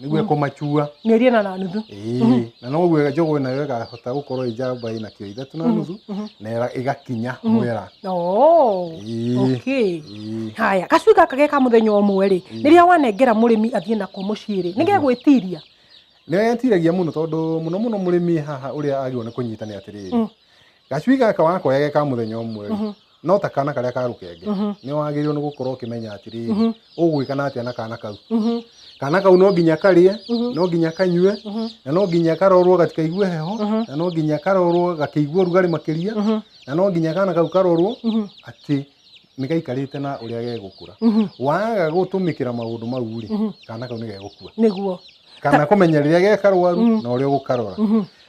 nĩguo ĩkũmacua mĩeri ĩna na nuthu Ĩĩ, na noguo njũgũ nayo ĩgahota gũkorwo ĩ njamba ĩna kiro ithatũ na nuthu na ĩra- ĩgakinya mwera Oh, Ĩĩ. okay. Ĩĩ. haya gacui gaka ge ka mũthenya ũmwe rĩ rĩrĩa wanengera mũrĩmi athiĩ nako mũciĩ rĩ nĩ gegwĩtiria nĩyetiragia mũno tondũ mũno mũno mũrĩmi haha ũrĩa agĩrwo nĩ kũnyita nĩ atĩrĩrĩ gacui gaka wakoya ge ka mũthenya ũmwe rĩ, no ta kana karĩa ka rũkenge nĩ wagĩrĩirwo nĩ gũkorwo ũkĩmenya atĩrĩrĩ ũgwĩka na atĩa na kana kau kana kau no nginya karĩe no nginya kanyue na no nginya karorwo gatikaigue heho na no nginya karorwo gakĩigua ũrugarĩ makĩria na no nginya kana kau karorwo atĩ nĩ gaikarĩte na ũrĩa gegũkũra waga gũtũmĩkĩra maũndũ mau rĩ kana kau nĩ gegũkua nĩguo kana kũmenya rĩrĩa gekarwaru na ũrĩa ũgũkarora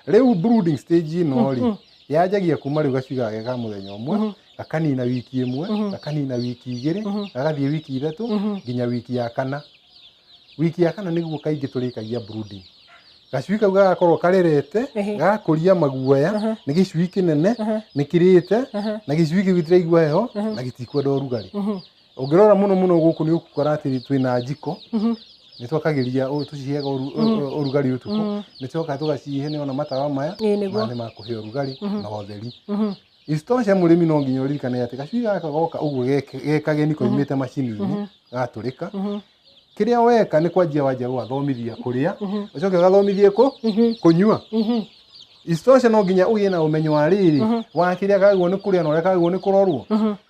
rĩu brooding stage ĩno rĩ yanjagia kuma rĩu gacui gageka mũthenya ũmwe mm -hmm. gakanina wiki ĩmwe mm -hmm. gakanina wiki igĩrĩ mm -hmm. gagathiĩ wiki ithatũ mm -hmm. nginya wiki ya kana wiki ya kana nĩguo kaingĩ tũrĩkagia brooding gacui kau gagakorwo karerete gakũria maguoya nĩ gĩcui kĩnene nĩ kĩrĩte na gĩcui kĩu gĩtiraigua heho na gĩtikwenda ũrugarĩ ũngĩrora mũno mũno gũkũ nĩ ũkũkora atĩ twĩna njiko mhm. nĩ twakagĩria tũciheaga mhm. ũrugarĩ ũtukũ mhm. nĩ tũcokaga tũgacihe nĩ ona matawa maya nĩ ma kũhe ũrugarĩ na ũtheri isitoshe mũrĩmi no nginya ũririkane atĩ gacui gaka goka ũguo gekageni koimĩte macini-inĩ gatũrĩka kĩrĩa weka nĩ kwanjia wanjia gũgathomithia kũrĩa ũcoke ũgathomithie kũ kũnyua isitoshe no nginya ũgĩe na ũmenyo wa rĩrĩ wa kĩrĩa kagwo nĩ kũrĩa na ũrĩa kagwo nĩ kũrorwo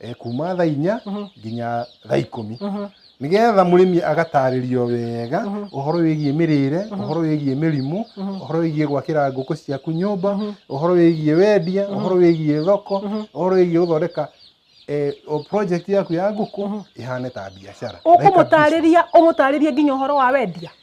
eh, kuma thaa inya nginya thaa ikũmi nĩgetha mũrĩmi agatarĩrio wega ũhoro wĩgiĩ mĩrĩre ũhoro wĩgiĩ mĩrimũ ũhoro wĩgiĩ gwakĩra ngũkũ ciaku nyũmba ũhoro wĩgiĩ wendia ũhoro wĩgiĩ thoko ũhoro wĩgiĩ gũthondeka eh, o project yaku ya ngũkũ ĩhane ta biacara Like a business. ũkũmũtarĩria ũmũtarĩrie nginya ũhoro wa wendia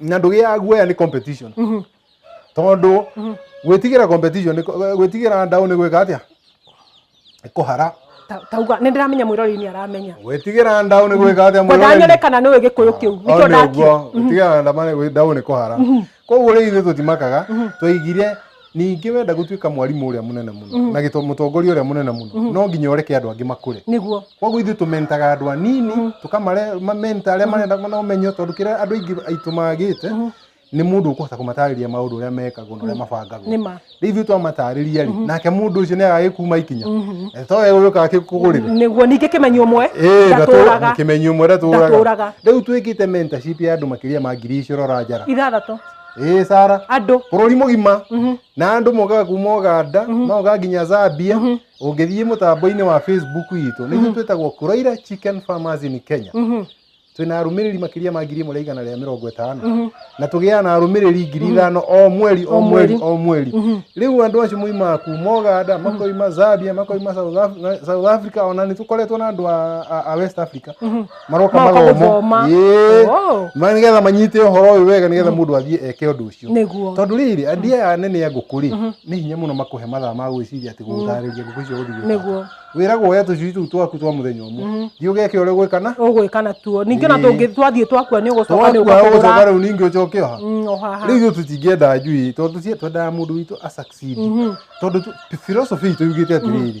na ndũgĩaga guoya nĩ competition tondũ gwĩtigĩra competition nĩ kũ- gwĩtigĩra ndaũ nĩ gwĩka atĩa Nĩ kũhara Ta- tauga nä ndä ramenya mwä rori nä aramenya gwĩtigĩra ndaũ nä gwä ka atä kwendaa nyone kana nä å ä gä kå yå kä u nä kä o ndakio gwĩtigĩra ndaũ nä kå hara koguo rä ithuä tå timakaga twaigire ningĩ wenda gũtuĩka mwarimũ ũrĩa mũnene mũno na gĩto- mũtongoria ũrĩa mũnene mũno no nginya ũreke andũ angĩ makũre nĩguo koguo ithuĩ tũmentaga andũ anini tũkamamenta arĩa marenda na ũmenyo tondũ kĩrĩa andũ aingĩ aitũ magĩte nĩ mũndũ ũkũhota kũmatarĩria maũndũ ũrĩa mekagwo na ũrĩa mabangagwo nĩ ma rĩu ithuĩ twamatarĩria rĩ nake mũndũ ũcio nĩ agagĩkuma ikinya Eh, to we ũgĩũka akĩkũgũrĩre nĩguo ningĩ kĩmenyi ũmwe ndatũraga kimenyi ũmwe ndatũraga ndatũraga rĩu twĩkĩte mentorship ya andũ makĩria ma ngiri icio rora njara ithathatũ ĩĩ sara andũ bũrũri mũgima Mhm. na andũ mokaga kuma ũganda magoka nginya zambia ũngĩthiĩ mũtambo-inĩ wa facebook witũ nĩguo twĩtagwo kuraira chicken farmers in kenya Mhm. twĩna arũmĩrĩri makĩria ma ngiri ĩmwe rĩa igana rĩa mĩrongo ĩtano na tũgĩaga na arũmĩrĩri ngiri ithano o mweri o mweri o mweri rĩu andũ acio moimaga kuma ũganda makoima zambia makoima South Af- na- south africa ona nĩ tũkoretwo na andũ a- a- a west africa maroka Maroka mathomo gũthoma. Ĩĩ. Oh. Ma- nĩgetha manyite ũhoro ũyũ wega nĩgetha mũndũ athiĩ eke ũndũ ũcio Nĩguo. tondũ rĩrĩ andia aya anene a ngũkũ rĩ nĩ hinya mũno makũhe mathaa ma gwĩciria atĩ gũtarĩria ngũkũ icio gũthiĩ Nĩguo. wĩragwo woya tũcui tũu twaku twa mũthenya ũmwe thiĩ ũgeke ũrĩa ũgwĩkana ũgwĩka natuo ningĩ ona Ĩĩ. tũngĩ twathiĩ twakua nĩ ũgũcoka nĩ twakuoya ũgũcoka ũkagũra rĩu ningĩ ũcoke oha Mm, ohaha. rĩu ithuĩ tũtingĩenda njui tondũ tũcie twendaga mũndũ witũ a succeed tondũ tu- philosophy itũ yugĩte atĩrĩrĩ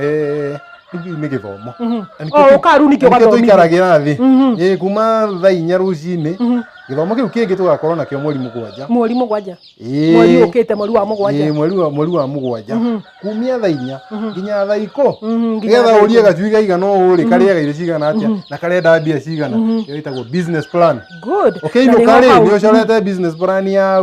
Eh, rĩu nĩ gĩthomo Mhm. Na nĩkĩo Oh, tũ- ũkaru nĩkĩo na nĩkĩo ũgathomithio. tũikaragĩra thĩ Mhm. Eh, kuma thaa inya rũcinĩ Mhm. gĩthomo kĩu kĩngĩ tũgakorwo nakĩo mweri mũgwanja mweri mũgwanja Eh, mweri ũkĩte mweri wa eh, mũgwanja mweri wa- mweri wa mũgwanja Mhm. kumia thaa inya nginya thaa ikũ Mhm, nginya nĩgetha thaa ũrie gacui kaigana ũũ rĩ karĩa gaire cigana atĩa na karenda mbia cigana ĩyo ĩtagwo business plan good Na ũkĩinũka nĩho rĩ hau. nĩ ũcorete business plan ya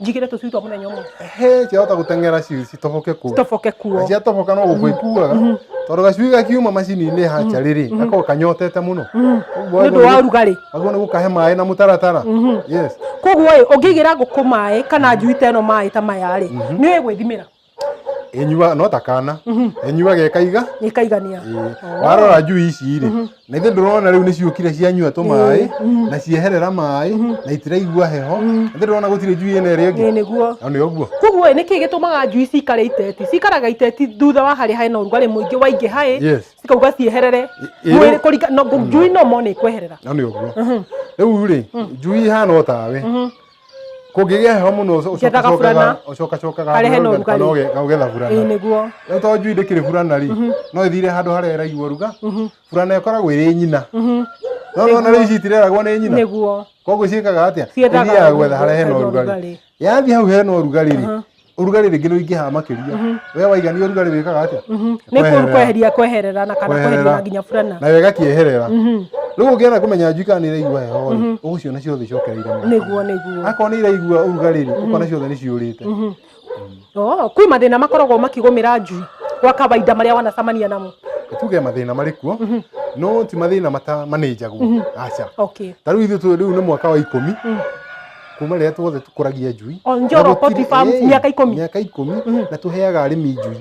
njigire tũcui twa mũthenya ũmwe he ciahota gũteng'era ci- citoboke kuo citoboke kuo ciatoboka no gũkũ ikuaga tondũ gacui gakiuma macini-inĩ haca rĩrĩ gakorwo kanyotete mũno Ũguo nĩ ũndũ wa ũrugarĩ aguo nĩ gũkahe maĩ na mũtaratara yes koguo ĩ ũngĩigĩra ngũkũ maĩ kana njui ta ĩno maĩ ta maya rĩ nĩ ũĩ gwĩthimĩra ĩnyua no ta kana ĩnyua gekaiga ikaigania Ĩĩ. warora njui ici rĩ na ithe ndũrona rĩu nĩ ciũkire cianyua tũ maĩ na cieherera maĩ na itiraigua heho na ithe ndũrona gũtirĩ njui ĩna ĩrĩa ĩngĩ ĩĩ nĩguo na nĩ ũguo koguo ĩ nĩkĩ gĩtũmaga njui cikare iteti cikaraga iteti thutha wa harĩa hena ũrugarĩ mũingĩ waingĩha ĩ Yes. cikauga cieherere ĩ- mwĩrĩ kũringa no njui no mone ikweherera na nĩ ũguo rĩu rĩ njui ihana o tawe kũngĩgĩa heho mũno Ngĩethaga burana. ũcokacokaga Harĩa hena ũrugarĩ. ũgetha burana ĩĩ nĩguo rĩu tondũ njui ndĩkĩrĩ burana rĩ no ĩthire handũ harĩa ĩraigua ruga burana ĩkoragwo ĩrĩ nyina no nona rĩu ici itireragwo nĩ nyina nĩguo koguo ciĩkaga atĩa Ciethaga ithiaga gwetha harĩa hena ũrugarĩ yathiĩ hau hena ũrugarĩ rĩ urugarĩ rĩngĩ rũingĩhaga makĩria we waigania urugarĩ wĩkaga atĩa nĩ Kweherera. kũ- kweheria kweherera na kana Kweherera. kweheria na nginya burana nayo ĩgakĩeherera rĩu ũngĩenda kũmenya njui kana nĩ ĩraigua heho rĩ ũgũciona ciothe icokereire mũno. nĩguo nĩguo akorwo nĩ iraigua urugarĩ rĩ ũkona ciothe nĩ ciũrĩte Oh, kwĩ mathĩna makoragwo makĩgũmĩra njui gwa kawaida marĩa wanacamania namo tuge mathĩna marĩ kuo no ti mathĩna mata manĩnjagwo aca okay ta rĩu ithuĩ tũ- rĩu nĩ mwaka wa ikũmi kuma rĩrĩa tuothe tũkũragia njui O Njoro Na gũtirĩ- Poultry Farm, Ĩĩ, mĩaka ikũmi. mĩaka ikũmi na tũheaga arĩmi njui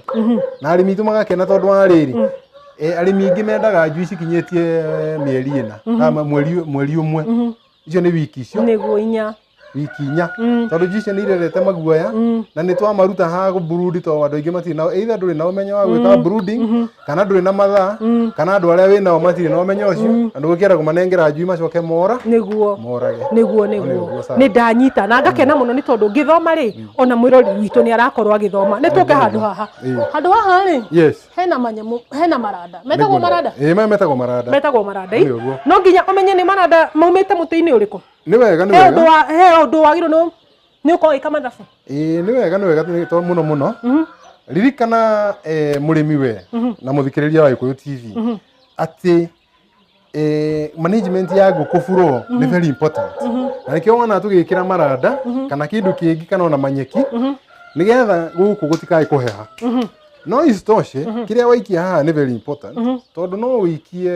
na arĩmi aitũ magakena tondũ wa rĩrĩ eh, arĩmi aingĩ mendaga njui cikinyĩtie eh, mĩeri ĩna na ma- mweri mweri ũmwe icio nĩ wiki icio nĩguo inya wiki inya Mm. tondũ njui icio nĩ irerete maguoya Mm. na nĩ twamaruta ha brood tondũ andũ aingĩ matirĩ nao either ndũrĩ na ũmenyo wa gwĩka brooding kana ndũrĩ na mathaa kana andũ arĩa wĩ nao matirĩ na ũmenyo ũcio na ndũgũkĩenda kũmanengera njui macoke mora nĩguo morage nĩguo Nĩ nĩguo ũguo, sawa. nĩ ndanyita na ngakena mũno nĩ tondũ ngĩthoma rĩ ona mwĩrori witũ nĩ arakorwo agĩthoma nĩ tũke handũ haha Ĩĩ. handũ haha rĩ yes hena manyamũ hena maranda metagwo Nĩguo. maranda Ĩĩ, maya metagwo maranda metagwo maranda Nĩ ũguo. no nginya ũmenye nĩ maranda maumĩte mũtĩ-inĩ ũrĩkũ nĩ wega nĩ he ũndũ wega wa he ũndũ wagĩrĩirwo nĩ nä å kowä ka mathabu ĩĩ nĩ wega nĩ wega nĩ- to mũno mũno Mhm. ririkana eh, mũrĩmi we na mũthikĩrĩria wa gĩkũyũ tv atĩ eh, management ya ngũkũ buro nĩ very important na nĩkĩo wona tũgĩkĩra maranda kana kĩndũ kĩngĩ kana ona manyeki nĩgetha gũkũ gũtikae kũheha no isitoshe mm -hmm. kĩrĩa waikia haha nĩ very important mm -hmm. tondũ no wĩikie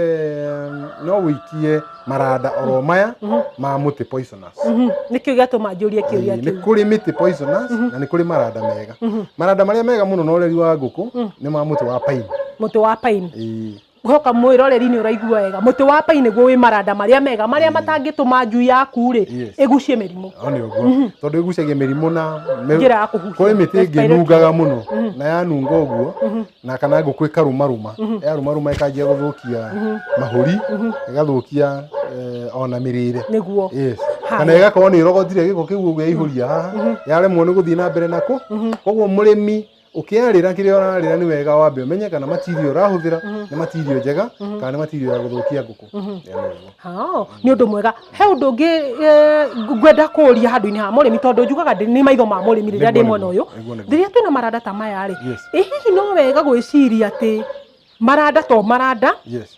no wĩikie maranda oro maya mm -hmm. ma mũtĩ poisonous mm -hmm. nĩkĩo gĩatũma njũrie kĩũria kĩu nĩ kũrĩ mĩtĩ poisonous mm -hmm. na nĩ kũrĩ maranda mega mm -hmm. maranda marĩa mega mũno na ũreri wa ngũkũ mm -hmm. nĩ ma mũtĩ wa paini mũtĩ wa paini Ngũcoka mwĩroreri-inĩ ũraigua wega, mũtĩ wa pai nĩguo wĩ maranda marĩa mega marĩa matangĩtũma njui yaku rĩ Yes. ĩgucie mĩrimũ. No nĩ ũguo tondũ ĩgucagia mĩrimũ na mĩ- Njĩra ya kũhuhia. kũrĩ mĩtĩ ĩngĩ Respiratory. ĩnungaga mũno na yanunga ũguo na kana ngũkũ ĩkarumaruma yarumaruma ĩkanjia gũthũkia mahũri ĩgathũkia eh, ona mĩrĩre Nĩguo. Yes. Haya. kana ĩgakorwo nĩ ĩrogotire gĩko kĩu ũguo yaihũria haha yaremwo nĩ gũthiĩ na mbere nako koguo mũrĩmi Ũkĩarĩra kĩrĩa ũrarĩra nĩ wega wambe ũmenye kana material ũrahũthĩra nĩ material njega kana nĩ material ya gũthũkia ngũkũ. Ĩyo nĩ ũguo. Hao, nĩ ũndũ mwega he ũndũ ũngĩ eh, ngwenda kũũria handũ-inĩ ha mũrĩmi tondũ njugaga ndĩ- nĩ maitho ma mũrĩmi rĩrĩa ndĩ Nĩguo, mwena ũyũ nĩguo, nĩguo, nĩguo. rĩrĩa twĩna maranda ta maya rĩ Yes. ĩ hihi no wega gwĩciria atĩ maranda to maranda Yes.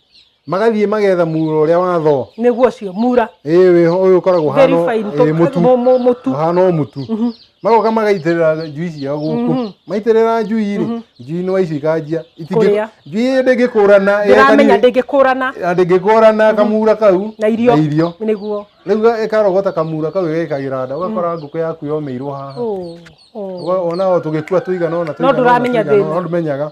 magathiĩ magetha mura ũrĩa watho nĩguo ũcio mura ĩĩ wĩho ũyũ ũkoragwo ũhana verified ĩĩ, mũtu mu- mu- mũtu ũhana o mũtu magoka magaitĩrĩra njui ciao gũkũ maitĩrĩra njui rĩ njui nĩ waici ikanjia Itingĩ- Kũrĩa. njui ĩyo ndĩngĩkũrana ndĩramenya ndĩngĩkũrana ndĩngĩkũrana kamura kau na irio irio nĩguo rĩu ĩkarogota kamura kau ĩgekagĩra nda ũgakora ngũkũ yaku yomeirwo haha Ũũ, ũũ. Ũga- ona o tũgĩkua tũigana ona tũigana ona, ndũramenya tũigana thĩna. ona, no ndũmenyaga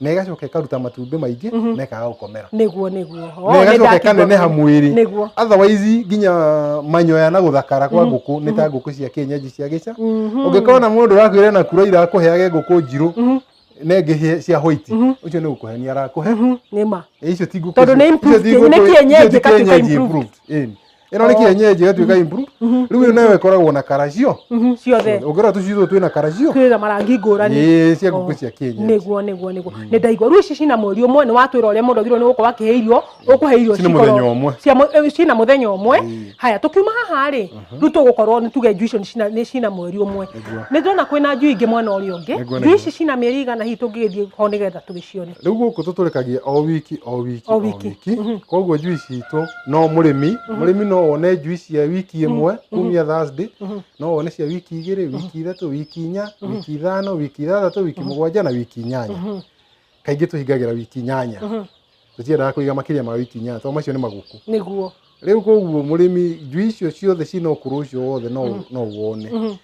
na ĩgacoka ĩkaruta matumbĩ maingĩ na ĩkaga gũkomera nĩguo nĩguo Oo, na nĩ ĩgacoka ndakiuga ĩkaneneha ũguo. mwĩrĩ nĩguo otherwise nginya manyoya na gũthakara kwa ngũkũ nĩ ta ngũkũ cia kĩenyenji cia gĩca Mhm. ũngĩkorwo na mũndũ ũrakwĩra na kura irakũheage ngũkũ njirũ Mhm. na ĩngĩ hĩ- cia white Mhm. ũcio nĩ gũkũhenia arakũhe Mhm, nĩ ma icio ti ngũkũ Tondũ icio- nĩ improved, icio ti nĩ ngũkũ- kĩenyenji, icio ti ĩgatuĩka kĩenyenji improved. improved. Ĩni. ĩno nĩ kĩenyenji ĩgatuĩka improve rĩu ĩyo nayo ĩkoragwo na karacio Mhm, ciothe ũngĩrora tũcui tũtũ twĩna karacio twĩ na marangi ngũrani ĩĩ cia ngũkũ cia kĩenyenji niguo niguo niguo nä ndaigua rä u ici cina mweri å mwe nä watwä ra å rä a må ndå agirwo nä gå korwo akä he irio å kå he irio Cina cikorwo- mũthenya ũmwe. cia mũ- eh, cina må thenya å mwe haya tå kiuma haha rä rä u tå gå korwo nä tuge njui icio nĩ cina- nĩ cina mweri å mwe Nĩguo. nä ndona kwä na njui ingä mwena å rä å ngä Nĩguo, njui nĩguo. ici cina mä eri igana hihi tå ngä gä thiä ho nä getha tå gä cione rĩu gũkũ tũtũrĩkagia o wiki o wiki O wiki. koguo njui citũ no mũrĩmi mũrĩmi no one njui cia wiki ĩmwe kumia Thursday no one cia wiki igĩrĩ wiki ithatũ wiki inya wiki ithano wiki ithathatũ wiki mũgwanja na wiki inyanya kaingĩ tũhingagĩra wiki inyanya tũtiendaga kũiga makĩria ma wiki inyanya tondũ macio nĩ maguku nĩguo rĩu koguo mũrĩmi njui icio ciothe ciĩ na ũkũrũ ũcio wothe no no wone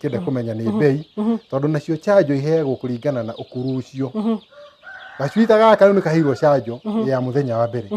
kĩenda mm-hmm. kũmenya nĩ mm-hmm. mbei mm-hmm. tondũ nacio chanjo iheagwo kũringana na ũkuru ũcio gacuita gaka rĩu nĩ kaheirwo canjo ya mũthenya wa mbere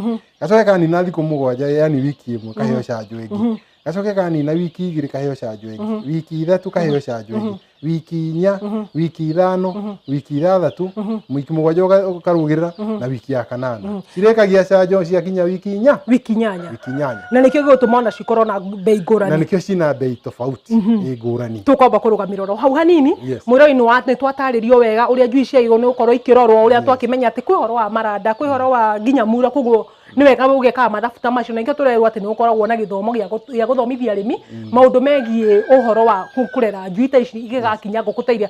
gacoke kanina thikũ mũgwanja yani wiki ĩmwe kaheo canjo ĩngĩ gacoke kanina wiki igĩrĩ kaheo canjo ĩngĩ wiki ithatũ kaheo canjo ĩngĩ wiki inya wiki ithano wiki ithathatũ wiki mũgwanja ũkarũgĩrĩra na wiki ya kanana cirĩkagia canjo ciakinya wiki inya wiki inyanya inyanya na nĩkĩo gĩgũtũma ona cikorwo na mbei na ngũrani nĩkĩo ciĩna mbei tofauti ĩ ngũrani tũkwamba kũrũgamĩrĩra oro hau hanini Yes. mwĩroi nĩ twatarĩrio wega ũrĩa njui ciagĩrĩirwo nĩ gũkorwo ikĩrorwo ũrĩa twakĩmenya atĩ kwĩ horo wa maranda kwĩ horo wa nginya mura koguo nĩ wega ũgekaga mathabu ta macio na nĩkĩo tũrerwo atĩ nĩ gũkoragwo na gĩthomo gĩa gũ- gĩa gũthomithia arĩmi maũndũ megiĩ ũhoro wa kũ- kũrera njui ta ici igĩgakinya ngũkũ ta iria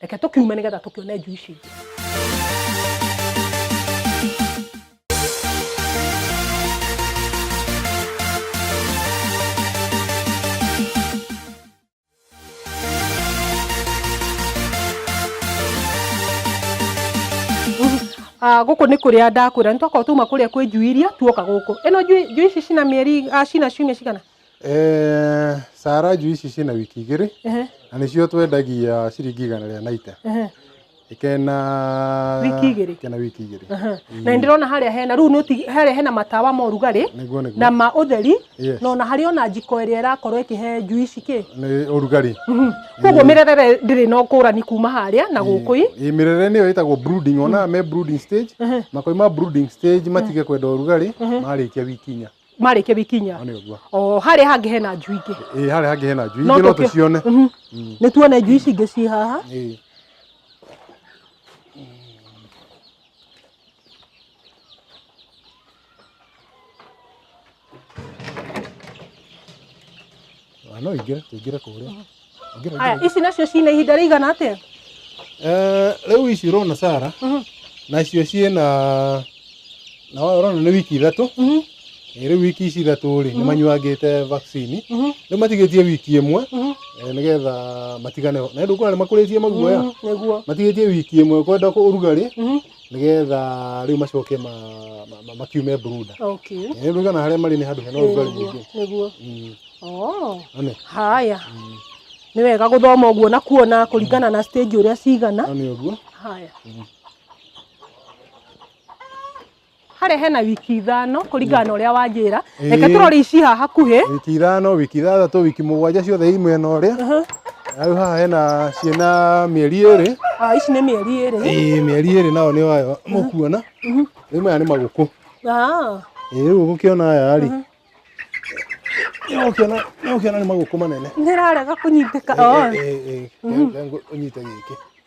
reke tũkiume nĩgetha tũkĩone njui ici ingĩ Ah, gũkũ nĩ kũrĩa ndakwĩra nĩ twakorwo tuma kũrĩa kwĩ njui iria tuoka gũkũ ĩno njui njui ici cina mĩeri ah, cina ciumia cigana Eh, saraju ici ciĩna wiki igĩrĩ Ehe, na nĩcio twendagia ciringi igana rĩa naite ehe, ikena Wiki igĩrĩ? ikena wiki igĩrĩ aha. na nĩ ndĩrona harĩa hena rĩu nĩ ũti- harĩa hena matawa ma ũrugarĩ nĩguo nĩguo na ma ũtheri Yes. na ona harĩ ona njiko ĩrĩa ĩrakorwo ĩkĩhe njui ici kĩ nĩ ũrugarĩ Mhm. koguo mĩrerere ndĩrĩ na ũkũrani kuma harĩa na gũkũ ĩ Ĩ, mĩrere nĩyo ĩtagwo brooding ona me brooding stage makoima brooding stage matige kwenda ũrugarĩ marĩkia wiki inya marĩke bikinya Ona ũguo. o harĩa hangĩ hena njui ingĩ Ĩĩ, harĩa hangĩ hena njui No ingĩ no tũkĩ- tũcione Mhm. nĩ tuone njui ici ingĩ ci haha Ĩĩ. Ah, no ingĩre tũingĩre kũrĩa Ingĩra, Aya, ingĩra. ici nacio cina ihinda rĩigana atĩa? Eh, rĩu ici ũrona sara Mhm. nacio ciĩ na na ũrona nĩ wiki ithatũ Mhm, Eh, rĩu wiki ici ithatũ rĩ nĩ manyuangĩte vaccine mhm, rĩu matigĩtie wiki ĩmwe mhm. eh, nĩgetha matigane na ndũkuona nĩ makũrĩtie maguoya Mhm, Nĩguo. matigĩtie wiki ĩmwe kwenda kũrugarĩ Mhm. nĩgetha rĩu macoke ma- ma- ma- makiume brooder okay Eh, rĩu kana harĩa marĩ nĩ handũ hena ũrugarĩ nĩguo mũingĩ nĩguo Mm, oh ane haya nĩ wega gũthoma ũguo na kuona kũringana na stage ũrĩa cigana ane ũguo haya harĩa hena wiki ithano kũringana na ũrĩa wanjĩra Ĩĩ. reke tũrore ici haha hakuhĩ wiki ithano wiki ithathatũ wiki mũgwanja ciothe i mwena ũrĩa rĩu haha hena ciĩna mĩeri ĩrĩ Ah, ici nĩ mĩeri ĩrĩ ĩĩ mĩeri ĩrĩ nayo nĩ wayo mũkuona rĩu maya nĩ magũkũ Ah, ĩĩ rĩu ũgũkĩona aya rĩ nĩũgũkĩona nĩũgũkĩona nĩ magũkũ manene nĩ ĩrarega kũnyitĩka Oh, ũnyite gĩkĩ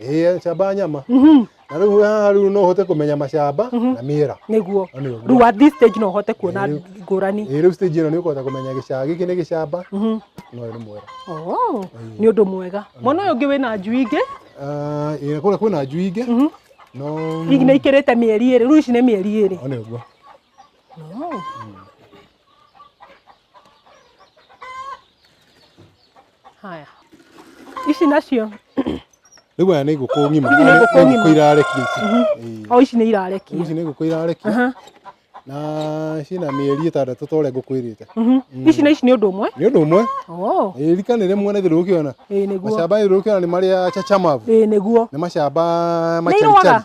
ĩĩ camba nyama Mhm, na rĩu haha rĩu no ũhote kũmenya macamba na mĩera nĩguo No nĩ ũguo. rĩu at this stage no ũhote kuona Rĩu- ngũrani ĩĩ rĩu stage ĩno nĩ ũkũhota kũmenya gĩcamba gĩkĩ nĩ gĩcamba Mhm. no ũyũ nĩ mwera Oh, nĩ ũndũ mwega mwana ũyũ ũngĩ wĩna njui ingĩ Ah, ĩĩ kũrĩa kwĩna njui ingĩ Mhm. no hihi nĩ ikĩrĩte mĩeri ĩrĩ rĩu ici nĩ mĩeri ĩrĩ no nĩ ũguo Oh. haya ici nacio rĩu aya nĩ ngũkũ ng'ima Ici nĩ Aya ngũkũ ng'ima. ngũkũ irarekia ici Ĩĩ. o ici nĩ irarekia ici nĩ ngũkũ irarekia Aha. na ciĩna mĩeri ĩtandatũ ta ũrĩa ngũkũ ĩrĩte Mhm. ici na ici nĩ ũndũ ũmwe nĩ ũndũ ũmwe Oh, Ĩĩ, rika nĩ rĩmwe na ithuĩ rĩũkĩona ĩĩ nĩguo macamba ithuĩ rĩũkĩona nĩ marĩa chachamavu ĩĩ nĩguo nĩ macamba Nĩ irũaga? macarichari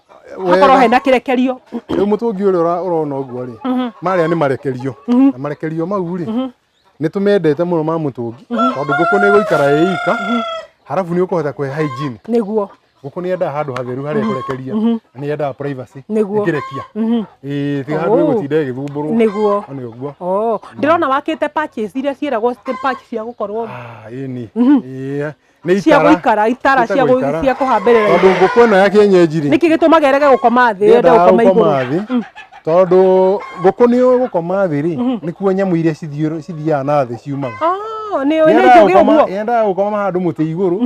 hakorwo hena kĩrekerio rĩu mũtũngi ũrĩa ũra- ũrona ũguo rĩ marĩa nĩ marekerio na marekerio mau rĩ nĩ tũmendete mũno ma mũtũngi tondũ ngũkũ nĩ ĩgũikara ĩ ika harabu nĩ ũkũhota kũhe hygiene nĩguo ngũkũ nĩ yendaga handũ hatheru harĩa ĩkũrekeria na nĩ yendaga privacy Nĩguo. ĩkĩrekia ĩĩ tiga handũ Ũ. ĩgũtinda ĩgĩthumbũrwo nĩguo nĩ ũguo Oh, ndĩrona wakĩte patches iria ciĩragwo state patch cia gũkorwo Ah, ĩni Ĩĩ, Nĩ cia itara. gũikara itara cia Ciĩtagwo itara. gũ- cia kũhambĩrĩra Tondũ ngũkũ ĩno ya kĩenyenji rĩ. nĩkĩ gĩtũmaga ĩrege gũkoma thĩ yende yendaga gũkoma igũrũ gũkoma thĩ tondũ ngũkũ nĩ gũkoma thĩ rĩ nĩkuo nyamũ iria cithiũrũ- cithiaga na thĩ ciumaga Oh, nĩ nĩ Yendaga njũgĩ gũkoma- ũguo yendaga gũkoma handũ mũtĩ igũrũ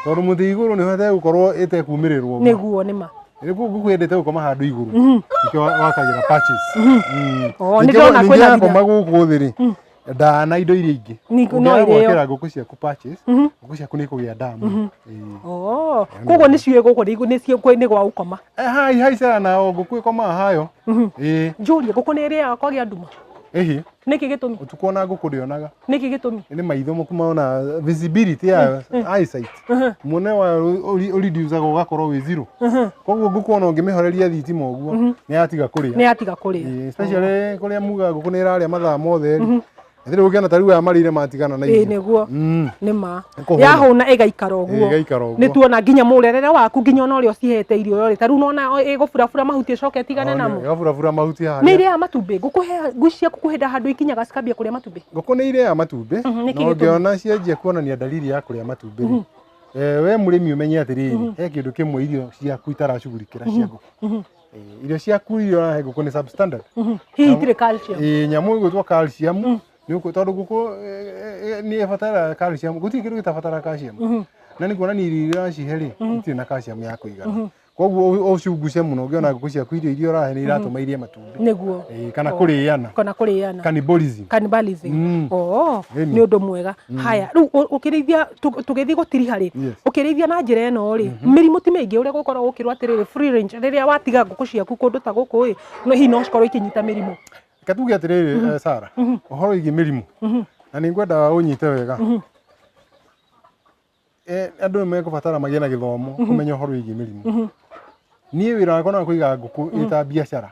tondũ mũtĩ igũrũ nĩ hote gũkorwo ĩtekumĩrĩrwo ũguo. nĩguo nĩma rĩguo ngũkũ yendete gũkoma handũ igũrũ nĩkĩo wakagĩra patches. Mm. Oo, Ningĩ- nĩndĩrona ningĩ kwĩna yakoma gũkũ thĩ rĩ ndaa na indo iria ingĩ Ni- no Ũngĩaga irĩo. gwakĩra ngũkũ ciaku patches Mhm. ngũkũ ciaku nĩ ikũgĩa ndaa mũno Ĩĩ. Oh, koguo nĩ ciũĩ gũkũ nĩ- nĩ ciũĩ nĩ gwa gũkoma Eh, hai hai sana nao ngũkũ ĩkomaga hayo Mhm. ĩĩ njũrie ngũkũ nĩ ĩrĩaga kwagĩa nduma ĩhĩ nĩkĩ gĩtũmi ũtukũ ona ngũkũ ndĩonaga nĩkĩ gĩtũmi nĩ maitho maku maona visibility ya eyesight Ehe, muone wa ũridiusaga ũgakorwo wĩ zero ehe. koguo ngũkũ ona ũngĩmĩhoreria thitima ũguo Mhm. nĩ yatiga kũrĩa nä atiga kå rä Ĩĩ, especially kũrĩa muga ngũkũ nĩ ĩrarĩa mathaa mothe rĩ ĩtirĩ gũkĩona ta rĩu aya marĩire matigana na ä irio nä guo Mm, nä ma Kũhũna. yahå na ä gaikara å ĩĩ, guo ĩgaikara nä ũguo tuona nginya må rerere waku nginya ona å rä a å cihete irio rä ta rä u nona ä gå burabura mahuti ä coke tigane namo ĩgaburabura mahuti nä harĩa irä a matumbä ngå ciaku kå hä nda handå ikinyaga cikambia kå rä a matumbä ngũkũ nĩ irĩaga matumbĩ Mhm, nĩkĩ na gĩtũmi? ũngĩona cianjia kuonania dalili ya kũrĩa matumbĩ rĩ eh, we mũrĩmi ũmenye atĩrĩrĩ he kĩndũ kĩmwe irio ciaku itaracugurikĩra cia ngũkũ Mhm. Eh, irio ciaku iria ũrahe ngũkũ nĩ substandard Mhm. hihi itirĩ calcium Eh, nyamũ ĩgwĩtwo calcium Mm. nĩ ũkũ- tondũ ngũkũ eh, eh, nĩ ĩbataraga calcium gũtirĩ kĩndũ gĩtabataraga calcium Mhm. na nĩ kuonania irio iria ũracihe rĩ itirĩ na calcium ya kũigana koguo ũ- ũcunguce mũno ũngĩona ngũkũ ciaku irio iria ũrahe nĩ iratũma irie matumbĩ nĩguo Eh, kana Oh. kũrĩana kana kũrĩana cannibalism cannibalism Mm. oo Ĩni. nĩ ũndũ mwega haya rĩu ũ- ũkĩrĩithia tũ- tũgĩthiĩ gũtiriha rĩ Yes. ũkĩrĩithia na njĩra ĩno rĩ mĩrimũ ti mĩingĩ ũrĩa gũkorwo gũkĩrwo atĩrĩrĩ free range rĩrĩa watiga ngũkũ ciaku kũndũ ta gũkũ ĩ no hihi no cikorwo ikĩnyita mĩrimũ Reke tuge atĩrĩrĩ eh, Sarah ũhoro wĩgiĩ mĩrimũ na nĩ ngwenda ũnyite wega eh, andũ nĩ megũbatara magĩe na gĩthomo mhm. kũmenya ũhoro wĩgiĩ mĩrimũ mhm. niĩ wĩra wakwa no kũiga ngũkũ mhm. ĩta biacara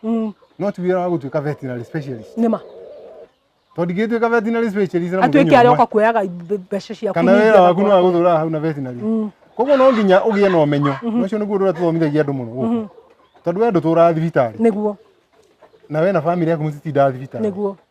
no ti wĩra wa gũtuĩka veterinary specialist nĩma tondũ ingĩtuĩka veterinary specialist na atuĩke arĩa oka kuoyaga mbeca ciaku kana wĩra waku no agũthũra hau na veterinary koguo no nginya ũgĩe na ũmenyo ũcio nĩguo ũndũ ũrĩa tũthomithagia andũ mũno gũkũ tondũ we ndũtũraga thibitarĩ nĩguo na we na bamĩrĩ yaku mũtitindaga thibitarĩ nĩguo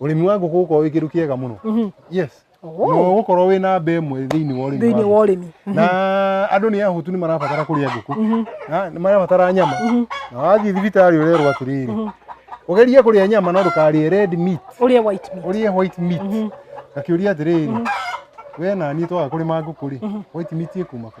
Ũrĩmi wa ngũkũ ũkorwo wĩ kĩndũ kĩega mũno. Mhm. Yes. Oh. No ũkorwo wĩ na mbe ĩmwe thĩinĩ wa ũrĩmi. Thĩinĩ wa ũrĩmi. Mhm. Na andũ nĩ ahũtu nĩ marabatara kũrĩa ngũkũ. Mhm. Nĩ marabatara nyama. Na wathiĩ thibitarĩ ũrerwo atĩrĩrĩ. Ũgerie kũrĩa nyama no ndũkarĩe red meat. Ũrĩe white meat. Ũrĩe white meat. Akĩũria atĩrĩrĩ. We na niĩ twaga kũrĩma ngũkũ rĩ, white meat ĩkuma kũ?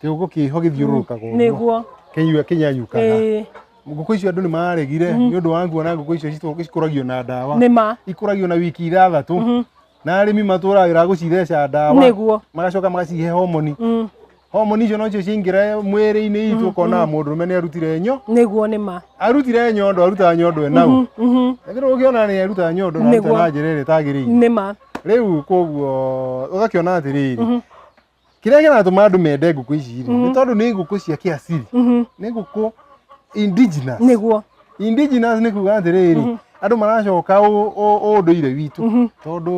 kiugo kiho githiururukaga uguo nĩguo kinyua kinyanyukaga ĩĩ ngũkũ icio andũ nĩ maregire nĩ ũndũ wa nguona ngũkũ icio citũ- cikũragio na ndawa nĩ ma ikũragio na wiki ithathatũ na arĩmi matũragĩra gũcitheca ndawa nĩguo magacoka magacihe homoni Mm, homoni icio nocio cingĩre mwĩrĩ-inĩ itũ ũkonaga mũndũrũme nĩ arutire nyo nĩguo nĩ ma arutire nyondo arutaga nyondo enau Mhm, ethirwo ũkĩona nĩ arutaga nyondo na aruta Nĩguo. na njĩra ĩrĩa ĩtagĩrĩire nĩ ma rĩu koguo ũgakĩona atĩrĩrĩ kĩrĩa kĩratũma andũ mende ngũkũ ici rĩ nĩ tondũ nĩ ngũkũ cia kĩasiri Mhm. nĩ ngũkũ indigenous nĩguo indigenous nĩ kuga atĩrĩrĩ andũ maracoka ũ- ũ- ũndũire witũ Mhm. tondũ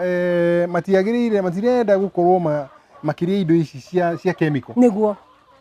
eh, matiagĩrĩire matirenda gũkorwo ma- makĩrĩa indo ici cia cia chemical nĩguo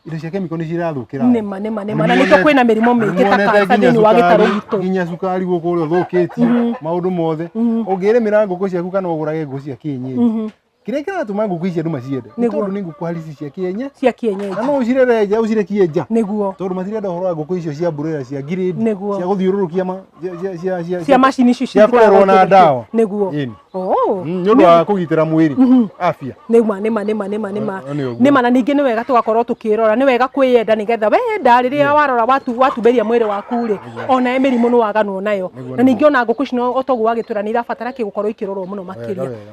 indo cia chemical nĩ cirathũkĩra andũ. nĩma nĩma nĩma na nĩkĩo kwĩna mĩrimũ mĩingĩ ta Nĩmuonete kanca nginya thĩinĩ wa gĩtarũ cukari- gitũ nginya cukari gũkũ ũrĩa ũthũkĩtie maũndũ mothe ũngĩrĩmĩra ngũkũ ciaku kana ũgũrage ngũkũ cia kĩenyenji kĩrĩa kĩratũma ngũkũ ici andũ maciende nĩ Nĩguo. tondũ nĩ ngũkũ halisi cia kĩenye cia na kĩenyeji no ũcirere nja ũcire kĩenja nĩguo tondũ matirenda ũhoro wa ngũkũ icio cia mburera cia grade Nĩguo. cia gũthiũrũrũkia ma- cia- cia- cia- cia- cia macini icio cia kũrerwo na ndawa. nĩguo Ĩni. Oh. Mm, nĩ ũndũ wa kũgitĩra mwĩrĩ afya nĩma nĩma nĩma nĩma nĩma Nĩ- nĩ ũguo. nĩma na ningĩ nĩ wega tũgakorwo tũkĩrora nĩ wega kwĩyenda nĩgetha wenda rĩrĩa warora watu watumberia mwĩrĩ waku rĩ ona mĩrimũ nĩ waganwo nayo Nĩguo, na ningĩ ona ngũkũ ici no o toguo wagĩtwĩra nĩ irabatara kĩ gũkorwo ikĩrorwo mũno makĩria wega.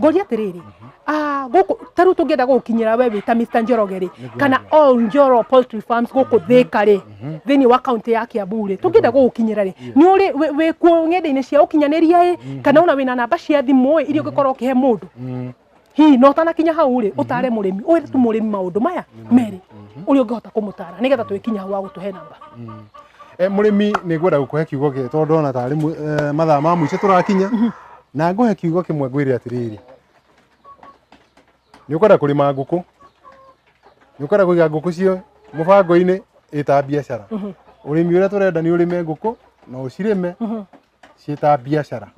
ngoria atiriri ah guku taru tungienda gukinyira we wita Mr Njoroge ri kana all Njoro poultry farms guku thika ri thini wa county ya Kiambu ri tungienda gukinyira ri ni uri we kuo ngenda-ini cia ukinyaniria ri kana una wina namba cia thimu ri iria ungikorwo ukihe mundu Mm. hihi no ũtanakinya hau rĩ ũtare mũrĩmi ũyũ tu mũrĩmi maũndũ maya merĩ ũrĩa ũngĩhota kũmũtara nĩgetha twĩkinya hau wa gũtũhe namba Eh, mũrĩmi nĩ ngwenda gũkũhe kiugo gĩ tondũ ndona tarĩ mũ- eh, mathaa ma mũico tũrakinya na ngũhe kiugo kĩmwe ngwĩre atĩrĩrĩ nĩ ũkwenda kũrĩma ngũkũ nĩ ũkwenda kũiga ngũkũ cio mũbango-inĩ ĩta biacara ũrĩmi ũrĩa tũrenda nĩ ũrĩme ngũkũ na ũcirĩme ciĩta biacara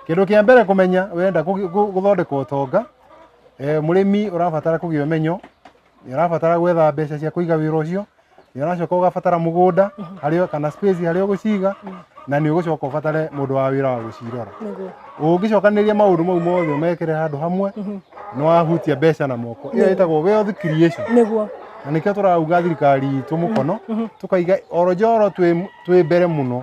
kĩndũ kĩa mbere kũmenya wenda kũgi- gũ- gũthondeka ũtonga eh, mũrĩmi ũrabatara kũgĩa ũmenyo nĩ ũrabatara gwetha mbeca cia kũiga wĩra ũcio nĩ ũracoka ũgabatara mũgũnda harĩa kana space harĩa ũgũciga na nĩ ũgũcoka ũbatare mũndũ wa wĩra wa gũcirora nĩguo ũngĩcokanĩria maũndũ mau mothe ũmekĩre handũ hamwe nĩ wahutia mbeca na moko ĩyo ĩtagwo wealth creation nĩguo na nĩkĩo tũrauga thirikari itũ mũkono tũkaiga orojoro twĩ twĩ mbere mũno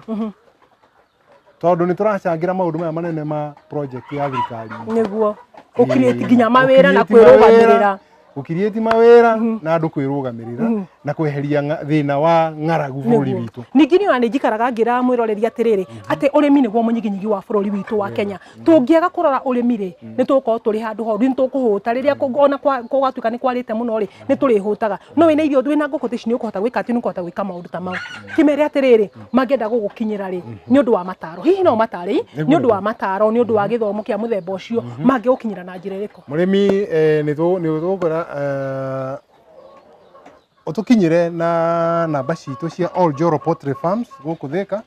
tondå nä tå racangä ra maå ndå maya manene ma project ya thirikari niguo å kirĩti nginya mawĩra na kwĩrũgamĩrĩra gå kirĩti mawä ra na andå kwä rå gamä rä ra na kweheria ng'a- thä na wa ng'aragu bå rå ri witå ningĩ niona nĩ njikaraga ngĩra mwĩroreri atĩrĩrĩ atĩ ũrĩmi nĩguo mũnyiginyigi wa bũrũri witũ wa Kenya tũngĩaga kũrora ũrĩmi rĩ nĩ tũgũkorwo tũrĩ handũ horu nĩ tũkũhũta rĩrĩa kũ- ona kwa- kũgatuĩka nĩ kwarĩte mũno rĩ nĩ tũrĩhũtaga no wĩna irio wĩna ngũkũ ta ici nĩ ũkũhota gwĩka atĩ nĩ ũkũhota gwĩka maũndũ ta mau kĩmere atĩrĩrĩ mangĩenda gũgũkinyĩra rĩ nĩ ũndũ wa mataro hihi no matare nĩ ũndũ wa mataro nĩ ũndũ wa gĩthomo kĩa mũthemba ũcio mangĩgũkinyĩra na njĩra ĩrĩkũ mũrĩmi eh, nĩ tũ- nĩ tũgũkwĩra eh, ũtũkinyĩre na namba citũ cia All Joro Poultry Farms gũkũ Thĩka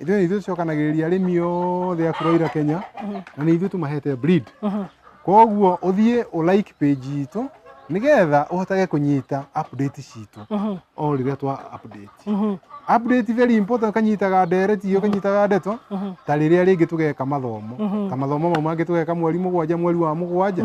ithuĩ nĩ ithuĩ tũcokanagĩrĩria arĩmi othe a kũrĩa ira kenya na nĩ ithuĩ tũmahete breed koguo ũthiĩ ũ like page itũ nĩgetha ũhotage kũnyita update citũ o rĩrĩa twa update update very important ũkanyitaga ndereti ũkanyitaga ndeto ta rĩrĩa rĩngĩ tũgeka mathomo ta mathomo mau mangĩ tũgeka mweri mũgwanja mweri wa mũgwanja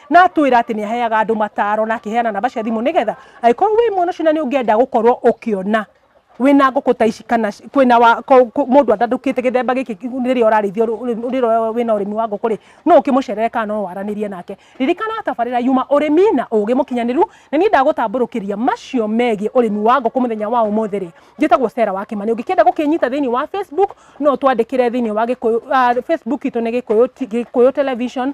na atwira ati ni aheaga andu mataro na akiheana namba cia thimu nigetha angikorwo wi mwana ucio na ni ungienda gukorwo ukiona wina nguku ta ici kana ci- kwina wa ko- ko- mundu atandukite githemba giki riria urarithio riria wina urimi wa nguku ri no ukimucerere kana no waranirie nake ririkana atabarira yuma urimi na ugi mukinyaniru na ni ndagutamburukiria macio megie urimi wa nguku muthenya wa umuthi ri njitagwo Sarah wa Kimani ungikienda gukinyita thiini wa Facebook no twandikire thiini wa gikuyu ah, Facebook itu ni gikuyu T- gikuyu television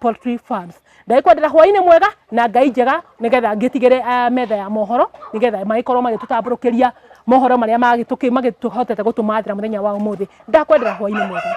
poultry farms ndagikwendera hwaini mwega na ngai njega nigetha ngitigire uh, metha ya mohoro nigetha magikorwo magitutamburukiria mohoro maria magituki magituhotete gutumathira muthenya wa umuthi ndakwendera hwaini mwega